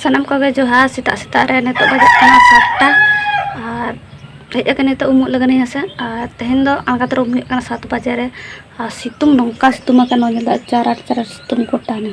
ᱥᱟᱱᱟᱢ ᱠᱚᱜᱮ ᱡᱚᱦᱟᱨ ᱥᱮᱛᱟᱜ ᱥᱮᱛᱟᱜ ᱨᱮ ᱱᱤᱛᱚᱜ ᱵᱟᱡᱟᱜ ᱠᱟᱱᱟ ᱥᱟᱛᱴᱟ ᱟᱨ ᱦᱮᱡ ᱟᱠᱟᱱ ᱱᱤᱛᱚᱜ ᱩᱢᱩᱜ ᱞᱟᱹᱜᱤᱫ ᱦᱮᱸ ᱥᱮ ᱟᱨ ᱛᱮᱦᱮᱧ ᱫᱚ ᱟᱬᱜᱟᱛ ᱨᱮ ᱩᱢ ᱦᱩᱭᱩᱜ ᱠᱟᱱᱟ ᱥᱟᱛ ᱵᱟᱡᱮ ᱨᱮ ᱟᱨ ᱥᱤᱛᱩᱝ ᱱᱚᱝᱠᱟ ᱥᱤᱛᱩᱝ ᱟᱠᱟᱱᱟ ᱧᱮᱞ ᱫᱟ ᱪᱟᱨᱟᱴ ᱪᱟᱨᱟᱴ ᱥᱤᱛᱩᱝ ᱜᱚᱴᱟᱱᱟ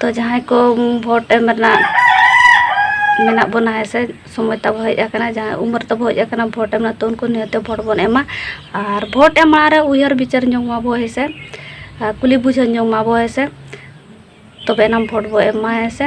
ᱛᱚ ᱡᱟᱦᱟᱸᱭ ᱠᱚ ᱵᱷᱳᱴ ᱮᱢ ᱨᱮᱱᱟᱜ ᱢᱮᱱᱟᱜ ᱵᱚᱱᱟ ᱦᱮᱸ ᱥᱮ ᱥᱚᱢᱚᱭ ᱛᱟᱵᱚ ᱦᱮᱡ ᱟᱠᱟᱱᱟ ᱡᱟᱦᱟᱸᱭ ᱩᱢᱮᱨ ᱛᱟᱵᱚ ᱦᱮᱡ ᱟᱠᱟᱱᱟ ᱵᱷᱳᱴ ᱮᱢ ᱨᱮᱱᱟᱜ ᱛᱚ ᱩᱱᱠᱩ ᱱᱤᱦᱟᱹᱛ ᱛᱮ ᱵᱷᱳᱴ ᱵᱚᱱ ᱮᱢᱟ ᱟᱨ ᱵᱷᱳᱴ ᱮᱢ ᱢᱟᱲᱟᱝ ᱨᱮ ᱩᱭᱦᱟᱹᱨ ᱵᱤᱪᱟᱹᱨ ᱧᱚᱜᱽ ᱢᱟᱵᱚ ᱦᱮᱸ ᱥᱮ ᱟᱨ ᱠᱩᱞᱤ ᱵᱩᱡᱷᱟᱹᱣ ᱧᱚᱜᱽ ᱢᱟᱵᱚ ᱦᱮᱸ ᱥᱮ ᱛᱚᱵᱮ ᱮᱱᱟᱝ ᱵᱷᱳᱴ ᱵᱚ ᱮᱢᱟ ᱦᱮᱸ ᱥᱮ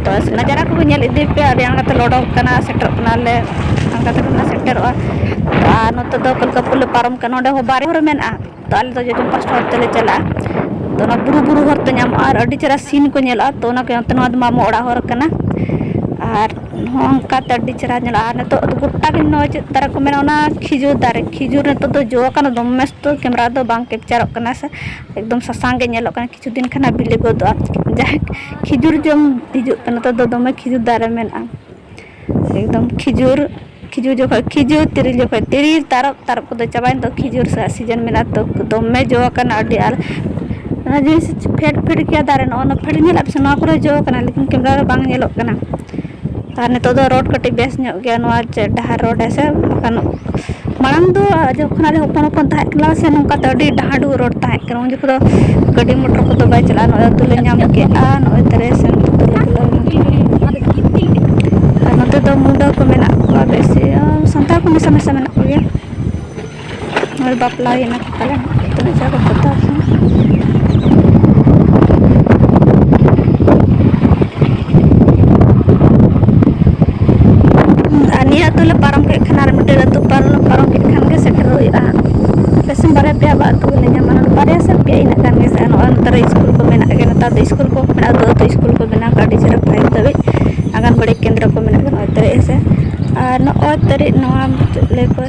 ᱵᱟᱥ ᱚᱱᱟ ᱡᱟᱭᱜᱟ ᱠᱚᱜᱮ ᱧᱮᱞ ᱤᱫᱤ ᱯᱮ ᱟᱹᱰᱤ ᱟᱬᱜᱟ ᱛᱮᱞᱮ ᱚᱰᱚᱠ ᱠᱟᱱᱟ ᱥᱮᱴᱮᱨᱚᱜ ᱠᱟᱱᱟᱞᱮ ᱚᱱᱠᱟ ᱛᱮᱜᱮ ᱞᱮ ᱥᱮᱴᱮᱨᱚᱜᱼᱟ ᱟᱨ ᱱᱚᱛᱮ ᱫᱚ ᱠᱚᱞᱠᱟᱯᱩᱨ ᱞᱮ ᱯᱟᱨᱚᱢ ᱠᱟᱱᱟ ᱚᱸᱰᱮ ᱦᱚᱸ ᱵᱟᱨ ᱦᱚᱨ ᱢᱮᱱᱟᱜᱼᱟ ᱛᱳ ᱟᱞᱮ ᱫᱚ ᱡᱚᱡᱚᱢ ᱯᱟᱥᱴᱟ ᱦᱚᱨ ᱛᱮᱞᱮ ᱪᱟᱞᱟᱜᱼᱟ ᱛᱳ ᱚᱱᱟ ᱵᱩᱨᱩ ᱵᱩᱨᱩ ᱦᱚᱨ ᱛᱮ ᱧᱟᱢᱚᱜᱼᱟ ᱟᱨ ᱟᱹᱰᱤ ᱪᱮᱦᱨᱟ ᱥᱤᱱ ᱠᱚ ᱧᱮᱞᱚᱜᱼᱟ ᱛᱳ ᱚᱱᱟ ᱠᱚ ᱱᱚᱣᱟ ᱫᱚ ᱢᱟᱢᱚ ᱚᱲᱟᱜ ᱦᱚᱨ ᱠᱟᱱᱟ ᱟᱨ ᱱᱚᱝᱠᱟ ᱛᱮ ᱟᱹᱰᱤ ᱪᱮᱦᱨᱟ ᱧᱮᱞᱚᱜᱼᱟ ᱟᱨ ᱱᱤᱛᱚᱜ ᱫᱚ ᱜᱳᱴᱟ ᱜᱮ ᱱᱚᱜᱼᱚᱭ ᱪᱮᱫ ᱫᱟᱨᱮ ᱠᱚ ᱢᱮᱱᱟᱜᱼᱟ ᱚᱱᱟ ᱠᱷᱤᱡᱩᱨ ᱫᱟᱨᱮ ᱠᱷᱤᱡᱩᱨ ᱱᱤᱛᱚᱜ ᱫᱚ ᱡᱚ ᱠᱟᱱᱟ ᱫᱚᱢᱮ ᱥᱚᱠᱛᱚ ᱠᱮᱢᱮᱨᱟ ᱨᱮᱫᱚ ᱵᱟᱝ ᱠᱮᱯᱪᱟᱨᱚᱜ ᱠᱟᱱᱟ ᱥᱮ ᱮᱠᱫᱚᱢ ᱥᱟᱥᱟᱝ ᱜᱮ ᱧᱮᱞᱚᱜ ᱠᱟᱱᱟ ᱠᱤᱪᱷᱩ ᱫᱤᱱ ᱠᱷᱟᱱ ᱦᱟᱸᱜ ᱵᱤᱞᱤ ᱜᱚᱫᱚᱜᱼᱟ ᱡᱟᱦᱟᱸᱭ ᱠᱷᱤᱡᱩᱨ ᱡᱚᱢ ᱦᱤᱡᱩᱜ ᱯᱮ ᱱᱚᱛᱮ ᱫᱚ ᱫᱚᱢᱮ ᱠᱷᱤᱡᱩᱨ ᱫᱟᱨᱮ ᱢᱮᱱᱟᱜᱼᱟ ᱮᱠᱫᱚᱢ ᱠᱷᱤᱡᱩᱨ ᱠᱷᱤᱡᱩᱨ ᱡᱚᱠᱷᱚᱡ ᱠᱷᱤᱡᱩᱨ ᱛᱤᱨᱤᱞ ᱡᱚᱠᱷᱚᱡ ᱛᱤᱨᱤᱞ ᱛᱟᱨᱚᱵ ᱛᱟᱨᱚᱵ ᱠᱚᱫᱚ ᱪᱟᱵᱟᱭᱮᱱ ᱫᱚ ᱠᱷᱤᱡᱩᱨ ᱨᱮᱭᱟᱜ ᱥᱤᱡᱮᱱ ᱢᱮᱱᱟᱜᱼᱟ ᱛᱚ ᱫᱚᱢᱮ ᱡᱚ ᱟᱠᱟᱱᱟ ᱟᱹᱰᱤ ᱟᱨ ᱚᱱᱟ ᱡᱤᱱᱤᱥ ᱯᱷᱮᱰ ᱯᱷᱮᱰ ᱜᱮᱭᱟ ᱫᱟᱨᱮ ᱱᱚᱜᱼᱚ ᱱᱚᱣᱟ ᱯᱷᱮᱰ ᱧᱮᱞᱟᱜ ᱯᱮᱥᱮ ᱱᱚᱣᱟ ᱠᱚᱨᱮ ᱦᱚᱸ ᱡᱚ ᱟᱠᱟᱱᱟ ᱞᱮᱠᱤᱱ ᱠᱮᱢᱮᱨᱟ ᱨᱮ ᱵᱟᱝ ᱧᱮᱞᱚᱜ ᱠᱟᱱᱟ ᱟᱨ ᱱᱤᱛᱚᱜ ᱫᱚ ᱨᱳᱰ ᱠᱟᱹᱴᱤᱡ ᱵᱮᱥ ᱧᱚᱜ ᱜᱮᱭᱟ ᱱᱚᱣᱟ ᱪᱮᱫ ᱰᱟᱦᱟᱨ ᱨᱳᱰ ᱦᱮᱸᱥᱮ ᱵᱟᱠᱷᱟᱱ ᱢᱟᱲᱟᱝ ᱫᱚ ᱡᱚᱠᱷᱚᱱ ᱟᱞᱮ ᱦᱚᱯᱚᱱ ᱦᱚᱯᱚᱱ ᱛᱟᱦᱮᱸ ᱠᱟᱱᱟ ᱥᱮ ᱱᱚᱝᱠᱟ ᱫᱚ ᱟᱹᱰᱤ ᱰᱟᱦᱟᱰᱩ ᱨᱳᱰ ᱛᱟᱦᱮᱸ ᱠᱟᱱᱟ ᱩᱱ ᱡᱚᱠᱷᱚᱱ ᱫᱚ ᱜᱟᱹᱰᱤ ᱢᱚᱴᱚᱨ ᱠᱚᱫᱚ ᱵᱟᱭ ᱪᱟᱞᱟᱜᱼᱟ ᱱᱚᱜᱼᱚᱭ ᱟᱹᱛᱩ ᱞᱮ ᱧᱟᱢ ᱠᱮᱫᱼᱟ ᱱᱚᱜᱼᱚᱭ ᱛᱟᱞᱮ ᱥᱮᱱ ᱟᱨ ᱱᱚᱛᱮ ᱫᱚ ᱢᱩᱰᱟᱹ ᱠᱚ ᱢᱮᱱᱟᱜ ᱠᱚᱣᱟ ᱵᱮᱥᱤ ᱥᱟᱱᱛᱟᱲ ᱠᱚ ᱢᱮᱥᱟ ᱢᱮᱥᱟ ᱢᱮᱱᱟᱜ ᱠᱚᱜᱮᱭᱟ ᱱᱚᱜᱼᱚᱭ ᱵᱟᱯᱞᱟ ᱦᱩᱭᱱᱟ ᱯᱟᱞᱮᱱ ᱛᱤᱱᱟᱹᱜ ᱪᱮᱦᱨᱟ ᱠᱚ ᱯᱚᱛᱟᱣ ᱠᱮᱫᱟ ᱟᱨ ᱱᱤᱭᱟᱹ ᱟᱹᱛᱩ ᱞᱮ ᱯᱟᱨᱚᱢ ᱠᱮᱫ ᱠᱷᱟᱱ ᱟᱨ ᱢᱤᱫᱴᱮᱱ ᱟᱹᱛᱩ ᱯᱟᱨᱚᱢ ᱯᱟᱨᱚᱢ ᱠᱮᱫ ᱠᱷᱟᱱ ᱜᱮ ᱥᱮᱴᱮᱨᱚᱜ ᱦᱩᱭᱩᱜᱼᱟ ᱯᱮᱥᱮᱱ ᱵᱟᱨᱭᱟ ᱯᱮᱭᱟ ᱵᱟ ᱟᱹᱛᱩ ᱜᱮᱞᱮ ᱧᱟᱢᱟ ᱱᱚᱰᱮ ᱵᱟᱨᱭᱟ ᱥᱮ ᱯᱮᱭᱟ ᱤᱱᱟᱹᱜ ᱜᱟᱱ ᱜᱮ ᱥᱮ ᱱᱚᱜᱼᱚᱭ ᱱᱮᱛᱟᱨ ᱥᱠᱩᱞ ᱠᱚ ᱢᱮᱱᱟᱜ ᱜᱮᱭᱟ ᱱᱮᱛᱟᱨ ᱫᱚ ᱥᱠᱩᱞ ᱠᱚ ᱢᱮᱱᱟᱜᱼᱟ ᱟᱹᱛᱩ ᱟᱹᱛᱩ ᱥᱠᱩᱞ ᱠᱚ ᱵᱮᱱᱟᱣ ᱠᱟᱜᱼᱟ ᱟᱹᱰᱤ ᱪᱮᱦᱨᱟ ᱯᱷᱟᱭᱤᱵᱽ ᱫᱷᱟᱹᱵᱤᱡ ᱟᱸᱜᱟᱱᱵᱟᱹᱲᱤ ᱠᱮᱱᱫᱨᱚ ᱠᱚ ᱢᱮᱱᱟᱜ ᱜᱮᱭᱟ ᱱᱚᱜᱼᱚᱭ ᱛᱟᱹᱨᱤᱡ ᱦᱮᱸ ᱥᱮ ᱟᱨ ᱱᱚᱜᱼᱚᱭ ᱛᱟᱹᱨᱤᱡ ᱱᱚᱣᱟ ᱢᱩᱪᱟᱹᱫ ᱞᱮ ᱠᱚᱨᱮ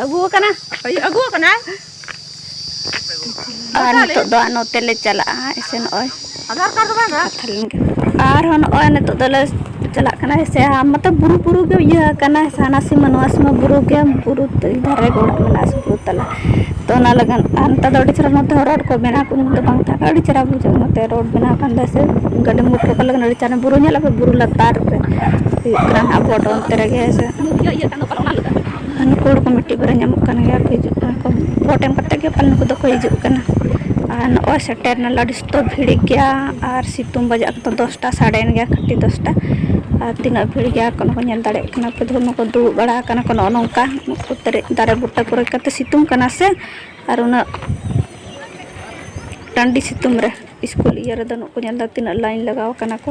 ᱟᱹᱜᱩ ᱟᱠᱟᱱᱟ ᱦᱩᱭᱩᱜ ᱟᱹᱜᱩ ᱟᱠᱟᱱᱟ ᱟᱨ ᱱᱤᱛᱚᱜ ᱫᱚ ᱱᱚᱛᱮ ᱞᱮ ᱪᱟᱞᱟᱜᱼᱟ ᱮᱥᱮ ᱱᱚᱜᱼᱚᱭ ᱟᱫᱷᱟᱨ ᱠᱟᱨᱰ ᱫᱚ ᱵᱟᱝ ᱠᱟᱛᱷᱟ ᱞᱮᱱ ᱜᱮ ᱟᱨᱦᱚᱸ ᱱᱚᱜᱼᱚᱭ ᱱᱤᱛᱚᱜ ᱫᱚᱞᱮ ᱪᱟᱞᱟᱜ ᱠᱟᱱᱟ ᱥᱮ ᱢᱚᱛᱞᱚᱵ ᱵᱩᱨᱩ ᱵᱩᱨᱩ ᱜᱮ ᱤᱭᱟᱹ ᱟᱠᱟᱱᱟ ᱦᱟᱱᱟ ᱥᱤᱢᱟᱹ ᱱᱚᱣᱟ ᱥᱤᱢᱟᱹ ᱵᱩᱨᱩ ᱜᱮ ᱵᱩᱨᱩ ᱫᱷᱟᱨᱮ ᱜᱮ ᱚᱲᱟᱜ ᱢᱮᱱᱟᱜᱼᱟ ᱥᱮ ᱵᱩᱨᱩ ᱛᱟᱞᱟ ᱛᱚ ᱚᱱᱟ ᱞᱟᱹᱜᱤᱫ ᱟᱨ ᱱᱮᱛᱟᱨ ᱫᱚ ᱟᱹᱰᱤ ᱪᱮᱦᱨᱟ ᱱᱚᱛᱮ ᱦᱚᱸ ᱨᱳᱰ ᱠᱚ ᱵᱮᱱᱟᱣ ᱠᱚ ᱩᱱᱫᱤᱱ ᱫᱚ ᱵᱟᱝ ᱛᱟᱦᱮᱸ ᱠᱟᱱᱟ ᱟᱹᱰᱤ ᱪᱮᱦᱨᱟ ᱵᱩᱡᱷᱟᱹᱜᱼᱟ ᱱᱚᱛᱮ ᱨᱳᱰ ᱵᱮᱱᱟᱣ ᱠᱟᱱ ᱫᱚ ᱥᱮ ᱜᱟᱹᱰᱤ ᱢᱚᱴᱚᱨ ᱠᱚ ᱞᱟᱹᱜᱤᱫ ᱟᱹᱰᱤ ᱪᱮᱦᱨᱟ ᱵᱩᱨᱩ ᱧᱮᱞᱚᱜᱼᱟ ᱵᱩᱨᱩ ᱞᱟᱛᱟᱨ ᱨᱮ ᱦᱩᱭᱩᱜ ᱠᱟᱱᱟ ᱦᱟᱸᱜ ᱵᱳᱰ ᱚᱱᱛᱮ ᱨᱮᱜᱮ ᱦᱮᱸ ᱥᱮ ᱱᱩᱠᱩ ᱦᱚᱲ ᱠᱚ ᱢᱤᱫᱴᱤᱡ ᱵᱟᱨᱭᱟ ᱧᱟᱢᱚᱜ ᱠᱟᱱ ᱜᱮᱭᱟ ᱠᱚ ᱦᱤᱡᱩᱜ ᱠᱟᱱᱟ ᱠᱚ ᱵᱷᱳᱴ ᱮᱢ ᱠᱟᱛᱮᱫ ᱜᱮ ᱯᱟᱞᱮᱱ ᱱᱩᱠᱩ ᱫᱚᱠᱚ ᱦᱤᱡᱩᱜ ᱠᱟᱱᱟ ᱟᱨ ᱱᱚᱜᱼᱚᱸᱭ ᱥᱮᱴᱮᱨ ᱱᱟᱞᱮ ᱟᱹᱰᱤ ᱛᱚ ᱵᱷᱤᱲᱤᱜ ᱜᱮᱭᱟ ᱟᱨ ᱥᱤᱛᱩᱝ ᱵᱟᱡᱟᱜ ᱠᱟᱱᱟ ᱫᱚᱥᱴᱟ ᱥᱟᱰᱮᱭᱮᱱ ᱜᱮᱭᱟ ᱠᱷᱟᱹᱴᱤ ᱫᱚᱥᱴᱟ ᱟᱨ ᱛᱤᱱᱟᱹᱜ ᱵᱷᱤᱲ ᱜᱮᱭᱟ ᱠᱚ ᱚᱱᱟ ᱠᱚ ᱧᱮᱞ ᱫᱟᱲᱮᱭᱟᱜ ᱠᱟᱱᱟ ᱯᱮ ᱫᱷᱩᱨ ᱢᱟᱠᱚ ᱫᱩᱲᱩᱵ ᱵᱟᱲᱟ ᱟᱠᱟᱱᱟ ᱠᱚ ᱱᱚᱜᱼᱚ ᱱᱚᱝᱠᱟ ᱱᱩᱠᱩ ᱛᱟᱹᱨᱤᱡ ᱫᱟᱨᱮ ᱵᱩᱴᱟᱹ ᱠᱚᱨᱮ ᱠᱟᱛᱮ ᱥᱤᱛᱩᱝ ᱠᱟᱱᱟ ᱥᱮ ᱟᱨ ᱩᱱᱟᱹᱜ ᱴᱟᱺᱰᱤ ᱥᱤᱛᱩᱝ ᱨᱮ ᱥᱠᱩᱞ ᱤᱭᱟᱹ ᱨᱮᱫᱚ ᱱᱩᱠᱩ ᱧᱮᱞ ᱫᱚ ᱛᱤᱱᱟᱹᱜ ᱞᱟᱭᱤᱱ ᱞᱟᱜᱟᱣ ᱠᱟᱱᱟ ᱠᱚ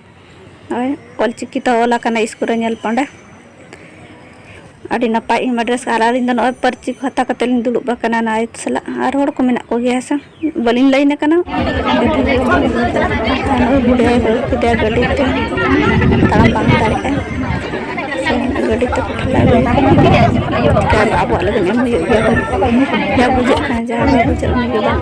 ᱱᱚᱜᱼᱚᱭ ᱚᱞᱪᱤᱠᱤ ᱛᱮ ᱚᱞ ᱟᱠᱟᱱᱟ ᱤᱥᱠᱩᱞ ᱨᱮ ᱧᱮᱞ ᱯᱮ ᱚᱸᱰᱮ ᱟᱹᱰᱤ ᱱᱟᱯᱟᱭ ᱤᱧ ᱢᱟ ᱰᱨᱮᱥ ᱟᱨ ᱟᱹᱞᱤᱧ ᱫᱚ ᱱᱚᱜᱼᱚᱭ ᱯᱟᱹᱧᱪᱤ ᱠᱚ ᱦᱟᱛᱟᱣ ᱠᱟᱛᱮᱫ ᱞᱤᱧ ᱫᱩᱲᱩᱵ ᱟᱠᱟᱱᱟ ᱱᱟᱭ ᱥᱟᱞᱟᱜ ᱟᱨ ᱦᱚᱲ ᱠᱚ ᱢᱮᱱᱟᱜ ᱠᱚᱜᱮᱭᱟ ᱦᱮᱸ ᱥᱮ ᱵᱟᱹᱞᱤᱧ ᱞᱟᱹᱭᱤᱱ ᱟᱠᱟᱱᱟ ᱱᱚᱜᱼᱚᱭ ᱵᱩᱰᱷᱤ ᱟᱭᱳ ᱟᱹᱜᱩ ᱠᱮᱫᱮᱭᱟ ᱜᱟᱹᱰᱤ ᱛᱮ ᱛᱟᱲᱟᱢ ᱵᱟᱝ ᱫᱟᱲᱮᱭᱟᱜᱼᱟᱭ ᱥᱮ ᱜᱟᱹᱰᱤ ᱛᱮ ᱠᱚ ᱴᱷᱮᱞᱟᱣ ᱟᱹᱜᱩᱭᱮᱭᱟ ᱪᱤᱠᱟᱹᱭᱟᱵᱚ ᱟᱵᱚᱣᱟᱜ ᱞᱟᱹᱜᱤᱫ ᱮᱢ ᱦᱩᱭᱩᱜ ᱜᱮᱭᱟ ᱡᱟ ᱵᱩᱡᱷᱟᱹᱜ ᱠᱟᱱᱟ ᱡᱟᱦᱟᱸ ᱵᱟᱭ ᱵᱩᱡᱷᱟᱹᱜ ᱩᱱᱤ ᱜᱮ ᱵᱟᱝ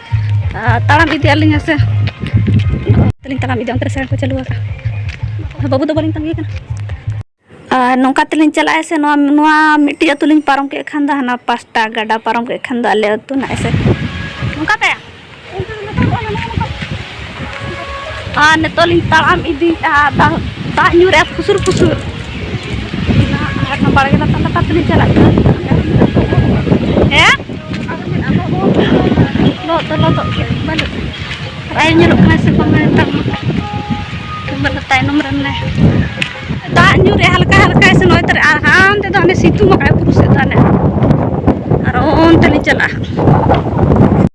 ᱛᱟᱲᱟᱢ ᱤᱫᱤ ᱟᱹᱞᱤᱧ ᱦᱮᱸᱥᱮ ᱛᱮᱞᱤᱧ ᱛᱟᱲᱟᱢ ᱤᱫᱤ ᱚᱱᱛᱮ ᱨᱮ ᱥᱟᱭᱤᱰ ᱠᱚ ᱪᱟᱹᱞᱩ ᱟᱠᱟᱫᱼᱟ ᱵᱟᱹᱵᱩ ᱫᱚ ᱵᱟᱹᱞᱤᱧ ᱛᱟᱺᱜᱤ ᱠᱟᱱᱟ ᱟᱨ ᱱᱚᱝᱠᱟ ᱛᱮᱞᱤᱧ ᱪᱟᱞᱟᱜᱼᱟ ᱥᱮ ᱱᱚᱣᱟ ᱱᱚᱣᱟ ᱢᱤᱫᱴᱤᱡ ᱟᱹᱛᱩ ᱞᱤᱧ ᱯᱟᱨᱚᱢ ᱠᱮᱫ ᱠᱷᱟᱱ ᱫᱚ ᱦᱟᱱᱟ ᱯᱟᱥᱴᱟ ᱜᱟᱰᱟ ᱯᱟᱨᱚᱢ ᱠᱮᱫ ᱠᱷᱟᱱ ᱫᱚ ᱟᱞᱮ ᱟᱹᱛᱩ ᱱᱟᱜ ᱥᱮ ᱱᱚᱝᱠᱟ ᱛᱮ ᱟᱨ ᱱᱤᱛᱚᱜ ᱞᱤᱧ ᱛᱟᱲᱟᱢ ᱤᱫᱤᱭᱮᱫᱼᱟ ᱫᱟᱜ ᱫᱟᱜ ᱧᱩ ᱨᱮ ᱯᱩᱥᱩᱨ ᱯᱩᱥᱩᱨ ᱟᱨ ᱚᱱᱟ ᱵᱟᱲᱜᱮ ᱞᱟᱛᱟᱨ ᱞᱟᱛᱟᱨ ᱛᱮᱞᱤᱧ ᱪᱟᱞᱟᱜ ᱠᱟᱱᱟ ᱦᱮᱸ ᱞᱚᱦᱚᱫ ᱫᱚ ᱞᱚᱦᱚᱫᱚᱜ ᱜᱮ ᱵᱟᱹᱱᱩᱜ ᱵᱟᱭ ᱧᱮᱞᱚᱜ ᱠᱟᱱᱟ ᱥᱮ ᱵᱟᱝ ᱱᱮᱛᱟᱨ ᱢᱟ ᱵᱟᱹᱱᱩᱜ ᱛᱟᱭᱱᱚᱢ ᱨᱮ ᱢᱟᱱᱮ ᱫᱟᱜ ᱧᱩ ᱨᱮ ᱦᱟᱞᱠᱟ ᱦᱟᱞᱠᱟ ᱥᱮ ᱱᱚᱜᱼᱚᱭ ᱛᱟᱨᱮ ᱟᱨ ᱦᱟᱱᱛᱮ ᱫᱚ ᱦᱟᱱᱮ ᱥᱤᱛᱩᱝ ᱟᱠᱟᱫ ᱵᱩᱨᱩ ᱥᱮᱫ ᱫᱚ ᱦᱟᱱᱮ ᱟᱨ ᱚᱱᱛᱮ ᱞᱤᱧ ᱪᱟᱞᱟᱜᱼᱟ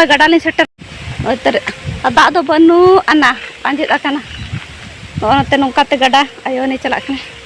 ᱱᱚᱜᱼᱚᱭ ᱜᱟᱰᱟ ᱞᱤᱧ ᱥᱮᱴᱮᱨ ᱱᱚᱛᱮ ᱫᱟᱜ ᱫᱚ ᱵᱟᱹᱱᱩᱜ ᱟᱱᱟ ᱟᱸᱡᱮᱫ ᱟᱠᱟᱱᱟ ᱱᱚᱜᱼᱚ ᱱᱚᱛᱮ ᱱᱚᱝᱠᱟᱛᱮ ᱜᱟᱰᱟ ᱟᱭᱳ ᱩᱱᱤ ᱪᱟᱞᱟᱜ ᱠᱟᱱᱟ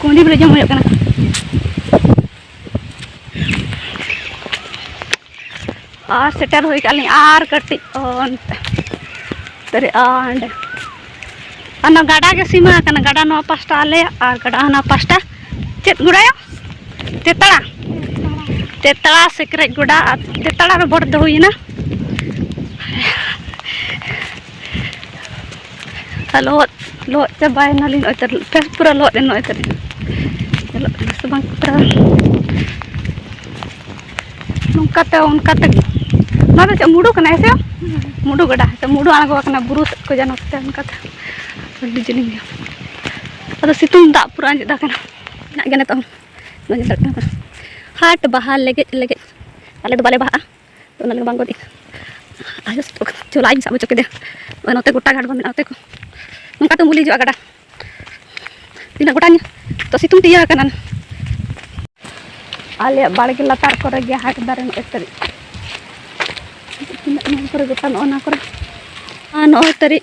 ᱠᱩᱸᱰᱤ ᱵᱚᱞᱮ ᱡᱚᱢ ᱦᱩᱭᱩᱜ ᱠᱟᱱᱟ ᱟᱨ ᱥᱮᱴᱮᱨ ᱦᱩᱭ ᱠᱟᱜ ᱞᱤᱧ ᱟᱨ ᱠᱟᱹᱴᱤᱡ ᱚᱱᱛᱮ ᱛᱟᱨᱮ ᱚᱸᱰᱮ ᱚᱱᱟ ᱜᱟᱰᱟ ᱜᱮ ᱥᱤᱢᱟᱹ ᱟᱠᱟᱱᱟ ᱜᱟᱰᱟ ᱱᱚᱣᱟ ᱯᱟᱥᱴᱟ ᱟᱞᱮᱭᱟᱜ ᱟᱨ ᱜᱟᱰᱟ ᱦᱟᱱᱟ ᱯᱟᱥᱴᱟ ᱪᱮᱫ ᱜᱚᱲᱟᱭᱟ ᱛᱮᱛᱟᱲᱟ ᱛᱮᱛᱟᱲᱟ ᱥᱮᱠᱨᱮᱡ ᱜᱚᱰᱟ ᱟᱨ ᱛᱮᱛᱟᱲᱟ ᱨᱮ ᱵᱷᱳᱴ ᱫᱚ ᱦᱩᱭᱮᱱᱟ ᱟᱨ ᱞᱚᱦᱚᱫ ᱞᱚᱦᱚᱫ ᱪᱟᱵᱟᱭᱮᱱᱟᱞᱤᱧ ᱱᱚᱜᱼᱚᱭ ᱛᱟᱹᱨᱩᱵ ᱯᱮ ᱯᱩᱨᱟᱹ ᱞᱚᱦᱚᱫ ᱮᱱ ᱱᱚᱜᱼᱚᱭ ᱛᱟᱹᱨᱩᱵ ᱧᱮᱞᱚᱜ ᱠᱟᱱᱟ ᱥᱮ ᱵᱟᱝ ᱯᱩᱨᱟᱹ ᱱᱚᱝᱠᱟᱛᱮ ᱚᱱᱠᱟᱛᱮ ᱱᱚᱣᱟ ᱫᱚ ᱪᱮᱫ ᱢᱩᱰᱩ ᱠᱟᱱᱟ ᱦᱮᱸ ᱥᱮ ᱢᱩᱰᱩ ᱜᱟᱰᱟ ᱦᱮᱸ ᱥᱮ ᱢᱩᱰᱩ ᱟᱬᱜᱚ ᱟᱠᱟᱱᱟ ᱵᱩᱨᱩ ᱥᱮᱫ ᱠᱚ ᱡᱟᱱᱚ ᱛᱮ ᱚᱱᱠᱟᱛᱮ ᱟᱹᱰᱤ ᱡᱤᱞᱤᱧ ᱜᱮᱭᱟ ᱟᱫᱚ ᱥᱤᱛᱩᱝ ᱫᱟᱜ ᱯᱩᱨᱟᱹ ᱟᱸᱡᱮᱫ ᱟᱠᱟᱱᱟ ᱢᱮᱱᱟᱜ ᱜᱮᱭᱟ ᱱᱤᱛᱚᱜ ᱦᱚᱸ ᱦᱟᱴ ᱵᱟᱦᱟ ᱞᱮᱜᱮᱡ ᱞᱮᱜᱮᱡ ᱟᱞᱮ ᱫᱚ ᱵᱟᱞᱮ ᱵᱟᱦᱟᱜᱼᱟ ᱛᱚ ᱚᱱᱟ ᱞᱟᱹᱜᱤᱫ ᱵᱟᱝ ᱜᱚᱫ ᱟᱭᱳ ᱥᱟᱵ ᱪᱚᱞᱚ ᱟᱡᱤᱧ ᱥᱟᱵ ᱦᱚᱪᱚ ᱠᱮᱫᱮᱭᱟ ᱟᱨ ᱱᱚᱛᱮ ᱜᱚᱴᱟ ᱜᱷᱟᱴ ᱫᱚ ᱢᱮᱱᱟᱜᱼᱟ ᱚᱛᱮ ᱠᱚ ᱱᱚᱝᱠᱟ ᱛᱮᱢ ᱵᱩᱞᱤ ᱦᱤᱡᱩᱜᱼᱟ ᱜᱟᱰᱟ ᱛᱤᱱᱟᱹᱜ ᱜᱚᱴᱟ ᱛᱚ ᱥᱤᱛᱩᱝ ᱛᱮ ᱤᱭᱟᱹ ᱟᱠᱟᱱᱟ ᱟᱞᱮᱭᱟᱜ ᱵᱟᱲᱜᱮ ᱞᱟᱛᱟᱨ ᱠᱚᱨᱮ ᱜᱮ ᱦᱟᱴ ᱫᱟᱨᱮ ᱱᱚᱜᱼᱚᱭ ᱛᱟᱹᱨᱤᱡ ᱛᱤᱱᱟᱹᱜ ᱱᱚᱣᱟ ᱠᱚᱨᱮ ᱜᱚᱴᱟ ᱱᱚᱜᱼᱚ ᱱᱚᱣᱟ ᱠᱚᱨᱮ ᱟᱨ ᱱᱚᱜᱼᱚᱭ ᱛᱟᱹᱨᱤᱡ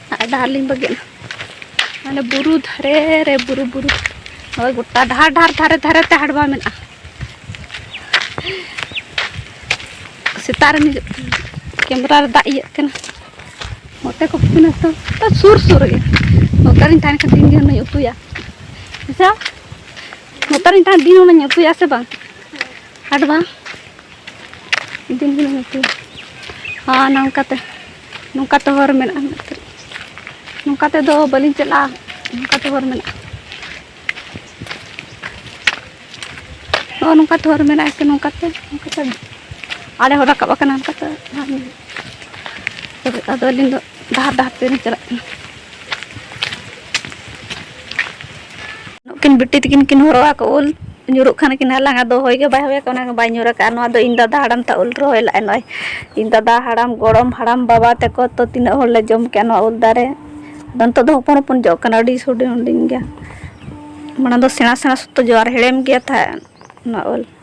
ᱰᱟᱦᱟᱨ ᱞᱤᱧ ᱵᱟᱹᱜᱤᱭᱟ ᱢᱟᱱᱮ ᱵᱩᱨᱩ ᱫᱷᱟᱨᱮ ᱨᱮ ᱵᱩᱨᱩ ᱵᱩᱨᱩ ᱦᱳᱭ ᱜᱚᱴᱟ ᱰᱟᱦᱟᱨ ᱰᱟᱦᱟᱨ ᱫᱷᱟᱨᱮ ᱫᱷᱟᱨᱮ ᱛᱮ ᱦᱟᱰᱵᱟ ᱢᱮᱱᱟᱜᱼᱟ ᱥᱮᱛᱟᱜ ᱨᱮ ᱠᱮᱢᱨᱟ ᱨᱮ ᱫᱟᱜ ᱤᱭᱟᱹᱜ ᱠᱟᱱᱟ ᱱᱚᱛᱮ ᱠᱚ ᱯᱤᱱᱟ ᱛᱚ ᱥᱩᱨ ᱥᱩᱨ ᱜᱮ ᱱᱚᱛᱮ ᱨᱤᱧ ᱛᱟᱦᱮᱱ ᱠᱷᱟᱱ ᱫᱤᱱ ᱜᱮ ᱦᱩᱱᱟᱹᱧ ᱩᱛᱩᱭᱟ ᱟᱪᱪᱷᱟ ᱱᱚᱛᱮ ᱨᱤᱧ ᱛᱟᱦᱮᱱ ᱫᱤᱱ ᱦᱩᱱᱟᱹᱧ ᱩᱛᱩᱭᱟ ᱥᱮ ᱵᱟᱝ ᱦᱟᱰᱵᱟ ᱫᱤᱱ ᱜᱮᱞᱤᱧ ᱩᱛᱩᱭᱟ ᱦᱚᱸ ᱱᱚᱝᱠᱟᱛᱮ ᱱᱚᱝᱠᱟ ᱛᱮ ᱦᱚᱨ ᱢᱮᱱᱟᱜᱼᱟ ᱱᱚᱝᱠᱟ ᱛᱮᱫᱚ ᱵᱟᱹᱞᱤᱧ ᱪᱟᱞᱟᱜᱼᱟ ᱱᱚᱝᱠᱟ ᱛᱮ ᱦᱚᱨ ᱢᱮᱱᱟᱜᱼᱟ ᱱᱚᱜᱼᱚ ᱱᱚᱝᱠᱟ ᱛᱮ ᱦᱚᱨ ᱢᱮᱱᱟᱜᱼᱟ ᱥᱮ ᱱᱚᱝᱠᱟ ᱛᱮ ᱱᱚᱝᱠᱟ ᱛᱮ ᱟᱲᱮ ᱦᱚᱸ ᱨᱟᱠᱟᱵ ᱟᱠᱟᱱᱟ ᱱᱚᱝᱠᱟ ᱛᱮ ᱟᱫᱚ ᱟᱹᱞᱤᱧ ᱫᱚ ᱰᱟᱦᱟᱨ ᱰᱟᱦᱟᱨ ᱛᱮᱞᱤᱧ ᱪᱟᱞᱟᱜ ᱠᱟᱱᱟ ᱱᱩᱠᱤᱱ ᱵᱤᱴᱤ ᱛᱤᱠᱤᱱ ᱠᱤᱱ ᱦᱚᱨᱚᱜ ᱟᱠᱚ ᱩᱞ ᱧᱩᱨᱩᱜ ᱠᱷᱟᱱ ᱠᱤᱱ ᱦᱟᱞᱟᱝ ᱟᱫᱚ ᱦᱚᱭ ᱜᱮ ᱵᱟᱭ ᱦᱚᱭ ᱟᱠᱟᱫ ᱚᱱᱟ ᱵᱟᱭ ᱧᱩᱨ ᱟᱠᱟᱫ ᱱᱚᱣᱟ ᱫᱚ ᱤᱧ ᱫᱟᱫᱟ ᱦᱟᱲᱟᱢ ᱛᱟ ᱩᱞ ᱨᱚᱦᱚᱭ ᱞᱟᱜᱼᱟᱭ ᱱᱚᱜᱼᱚᱭ ᱤᱧ ᱫᱟᱫᱟ ᱦᱟᱲᱟᱢ ᱜᱚᱲᱚᱢ ᱦᱟᱲᱟᱢ ᱵᱟᱵᱟ ᱛᱟᱠᱚ ᱛᱚ ᱛᱤᱱᱟᱹᱜ ᱦᱚᱲ ᱞᱮ ᱡᱚᱢ ᱠᱮᱜᱼᱟ ᱱᱚᱣᱟ ᱩᱞ ᱫᱟᱨᱮ ᱟᱫᱚ ᱱᱤᱛᱚᱜ ᱫᱚ ᱦᱚᱯᱚᱱ ᱦᱚᱯᱚᱱ ᱡᱚᱜ ᱠᱟᱱᱟ ᱟᱹᱰᱤ ᱦᱩᱰᱤᱧ ᱦᱩᱰᱤᱧ ᱜᱮᱭᱟ ᱢᱟᱲᱟᱝ ᱫᱚ ᱥᱮᱬᱟ ᱥᱮᱬᱟ ᱥᱚᱠᱛᱚ ᱡᱚ ᱟᱨ ᱦᱮᱲᱮᱢ ᱜᱮ ᱛᱟᱦᱮᱸᱫ ᱱᱚᱣᱟ ᱩᱞ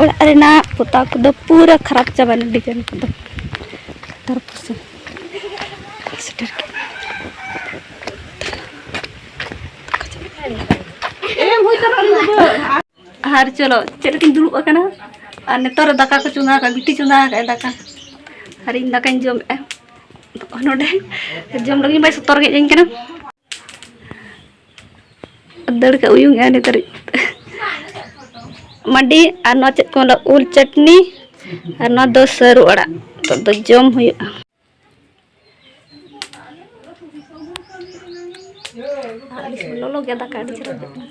ᱚᱲᱟᱜ ᱨᱮᱱᱟᱜ ᱯᱚᱛᱟᱣ ᱠᱚᱫᱚ ᱯᱩᱨᱟᱹ ᱠᱷᱟᱨᱟᱯ ᱪᱟᱵᱟᱭᱮᱱᱟ ᱰᱤᱡᱟᱭᱤᱱ ᱠᱚᱫᱚ ᱛᱟᱨᱯᱚᱨᱮ ᱥᱮᱴᱮᱨ ᱟᱨ ᱪᱚᱞᱚ ᱪᱮᱫ ᱞᱮᱠᱟᱧ ᱫᱩᱲᱩᱵ ᱟᱠᱟᱱᱟ ᱟᱨ ᱱᱮᱛᱟᱨ ᱨᱮ ᱫᱟᱠᱟ ᱠᱚ ᱪᱚᱸᱫᱟ ᱟᱠᱟᱫ ᱵᱤᱴᱤ ᱪᱚᱸᱫᱟ ᱟᱠᱟᱫ ᱫᱟᱠᱟ ᱟᱨ ᱤᱧ ᱫᱟᱠᱟᱧ ᱡᱚᱢᱮᱫᱼᱟ ᱱᱚᱰᱮ ᱡᱚᱢ ᱞᱟᱹᱜᱤᱫ ᱵᱟᱭ ᱥᱚᱛᱚᱨ ᱜᱮᱫ ᱟᱹᱧ ᱠᱟᱱᱟ ᱫᱟᱹᱲ ᱠᱟᱜ ᱩᱭᱩᱝ ᱮᱜᱼᱟ ᱱᱤᱛ ᱫᱷᱟᱹᱨᱤᱡ ᱢᱟᱹᱰᱤ ᱟᱨ ᱱᱚᱣᱟ ᱪᱮᱫ ᱠᱚ ᱢᱮᱱᱟ ᱩᱞ ᱪᱟᱴᱱᱤ ᱟᱨ ᱱᱚᱣᱟ ᱫᱚ ᱥᱟᱹᱨᱩ ᱟᱲᱟᱜ ᱱᱤᱛᱚᱜ ᱫᱚ ᱡᱚᱢ ᱦᱩᱭᱩᱜᱼᱟ ᱞᱚᱞᱚ ᱜᱮ ᱫᱟᱠᱟ ᱟᱹᱰᱤ ᱪᱮᱦᱨᱟ ᱵᱩᱡᱷᱟᱹᱜ ᱠᱟᱱᱟ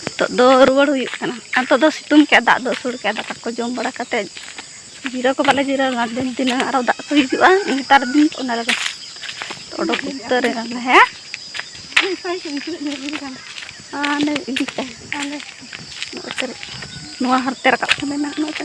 ᱱᱤᱛᱚᱜ ᱫᱚ ᱨᱩᱣᱟᱹᱲ ᱦᱩᱭᱩᱜ ᱠᱟᱱᱟ ᱟᱨ ᱱᱤᱛᱚᱜ ᱫᱚ ᱥᱤᱛᱩᱝ ᱠᱮᱫᱼᱟ ᱫᱟᱜ ᱫᱚ ᱟᱹᱥᱩᱲ ᱠᱮᱫᱼᱟ ᱫᱟᱠᱟ ᱠᱚ ᱡᱚᱢ ᱵᱟᱲᱟ ᱠᱟᱛᱮᱫ ᱡᱤᱨᱟᱹᱣ ᱠᱚ ᱵᱟᱞᱮ ᱡᱤᱨᱟᱹᱣ ᱞᱮᱱᱟ ᱫᱤᱱ ᱫᱤᱱᱟᱹᱝ ᱟᱨᱚ ᱫᱟᱜ ᱠᱚ ᱦᱤᱡᱩᱜᱼᱟ ᱱᱮᱛᱟᱨ ᱫᱤᱱ ᱚᱱᱟ ᱨᱮᱫᱚ ᱚᱰᱚᱠ ᱩᱛᱟᱹᱨ ᱮᱱᱟᱞᱮ ᱦᱮᱸ ᱟᱨ ᱤᱫᱤ ᱠᱟᱜᱼᱟ ᱟᱞᱮ ᱱᱚᱣᱟ ᱦᱟᱱᱛᱮ ᱨᱟᱠᱟᱵ ᱠᱟᱱᱟ ᱱᱟᱦᱟᱜ ᱱᱚᱛᱮ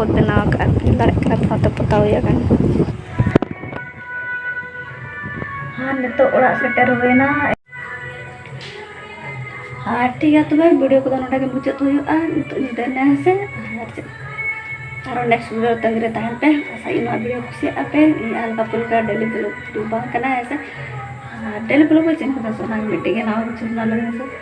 ᱠᱚ ᱵᱮᱱᱟᱣ ᱟᱠᱟᱫᱼᱟ ᱧᱮᱞ ᱫᱟᱲᱮᱭᱟᱜ ᱠᱟᱱᱟ ᱯᱮ ᱱᱚᱛᱮ ᱯᱚᱛᱟᱣ ᱦᱩᱭ ᱟᱠᱟᱱᱟ ᱟᱨ ᱱᱤᱛᱚᱜ ᱚᱲᱟᱜ ᱥᱮᱴᱮᱨ ᱦᱩᱭᱱᱟ ᱟᱨ ᱴᱷᱤᱠ ᱜᱮᱭᱟ ᱛᱚᱵᱮ ᱵᱷᱤᱰᱤᱭᱳ ᱠᱚᱫᱚ ᱱᱚᱰᱮ ᱜᱮ ᱢᱩᱪᱟᱹᱫ ᱦᱩᱭᱩᱜᱼᱟ ᱱᱤᱛᱚᱜ ᱧᱤᱫᱟᱹ ᱮᱱᱟ ᱦᱮᱸ ᱥᱮ ᱟᱨ ᱪᱮᱫ ᱟᱨᱚ ᱱᱮᱠᱥᱴ ᱵᱷᱤᱰᱤᱭᱳ ᱛᱟᱺᱜᱤ ᱨᱮ ᱛᱟᱦᱮᱱ ᱯᱮ ᱟᱥᱟᱭ ᱱᱚᱣᱟ ᱵᱷᱤᱰᱤᱭᱳ ᱠᱩᱥᱤᱭᱟᱜ ᱟᱯᱮ ᱤᱧ ᱟᱨ ᱵᱟᱯᱮ ᱞᱮᱠᱟ ᱰᱮᱞᱤ ᱵᱞᱚᱜ ᱵᱷᱤᱰᱤᱭᱳ ᱵᱟᱝ ᱠᱟᱱᱟ ᱦᱮᱸ ᱥᱮ ᱟᱨ ᱰᱮᱞᱤ ᱵᱞᱚᱜ ᱵᱟᱹᱧ ᱪᱮᱫ ᱠᱟᱫᱟ ᱥᱚᱱᱟ ᱢᱤᱫᱴᱮᱡ ᱜᱮ ᱱᱟᱣᱟ ᱠᱤᱪᱷᱩ ᱵᱮᱱᱟᱣ ᱞᱟᱹᱜᱤᱫ ᱥᱮ